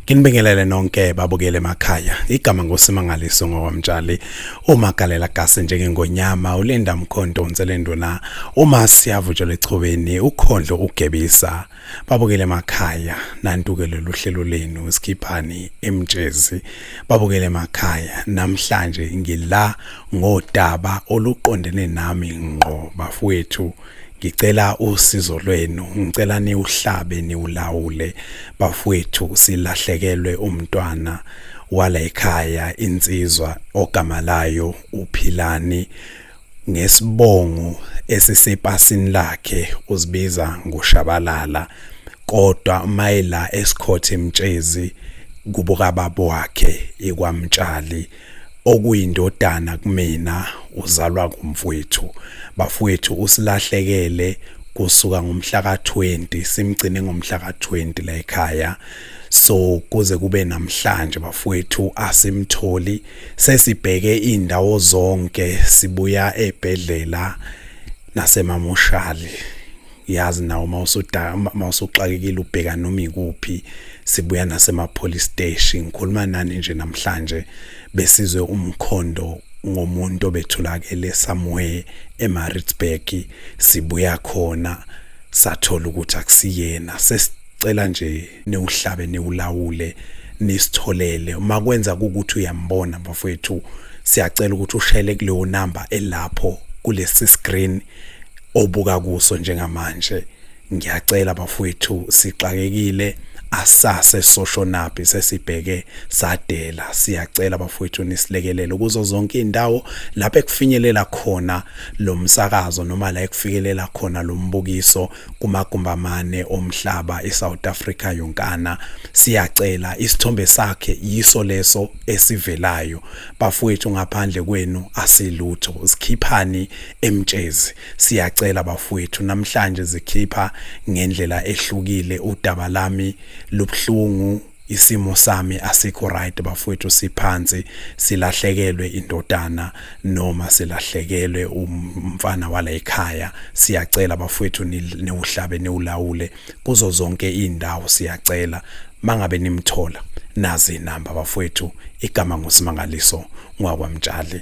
Nginibingelele nonke babukele emakhaya. Igama ngosimangaliso ngokwamtshali. Uma galela gase njengengonyama ulinda mkhonto unselenduna. Uma siyavutshela echobeni ukhondlo ugebisa. Babukele emakhaya nantuke lolu hlelo lenu sikhiphani emtshezi. Babukele emakhaya namhlanje ngila ngodaba oluqondene nami ngqo bafowethu. ngicela usizo lwenu ngicela niwuhlabe niwulawule bafowethu silahlekelwe umntwana wala ekhaya insizwa ogama layo uphilani ngesibongo esisepasini lakhe uzibiza ngoshabalala kodwa mayela esikhothe emtshezi kubuka babo wakhe ekwamtshali okuyindodana kumina uzalwa kumfowethu bafowethu usilahlekele kusuka ngomhla ka-20 simgcine ngomhla ka-20 la ekhaya so kuze kube namhlanje bafowethu asimtholi sesibheke indawo zonke sibuya ebhedlela nasemamoshali yazi nawo mawusuda mawusuxakekile ubheka noma ikuphi sibuya nasema police station ngikhuluma nani nje namhlanje besizwe umkhondo ngomuntu obethulakele somewhere eMaritzburg sibuya khona sathola ukuthi akusiyena sesicela nje newuhlabe newulawule nisitholele uma kwenza ukuthi uyambona bafowethu siyacela ukuthi ushele kuleyo number elapho kulesi screen obuka kuso njengamanje ngiyacela bafowethu sixakekile asase soshonaphi sesibheke sadela siyacela bafowethu nisilekelele kuzo zonke indawo lapho ekufinyelela khona lomsakazo noma la ekufikelela khona lombukiso kumagumbamane omhlaba eSouth Africa yonkana siyacela isithombe sakhe yiso leso esivelayo bafowethu ngaphandle kwenu asilutho sikhiphani emtshezi siyacela bafowethu namhlanje zikhipha ngendlela ehlukile udaba lami lobhlungu isimo sami asikho right bafowethu siphansi silahlekelwe indodana noma silahlekelwe umfana wala ekhaya siyacela bafowethu niwuhlabe niwulawule kuzo zonke indawo siyacela mangabe nimthola nazi inamba bafowethu igama ngusimangaliso ngwakwamtshali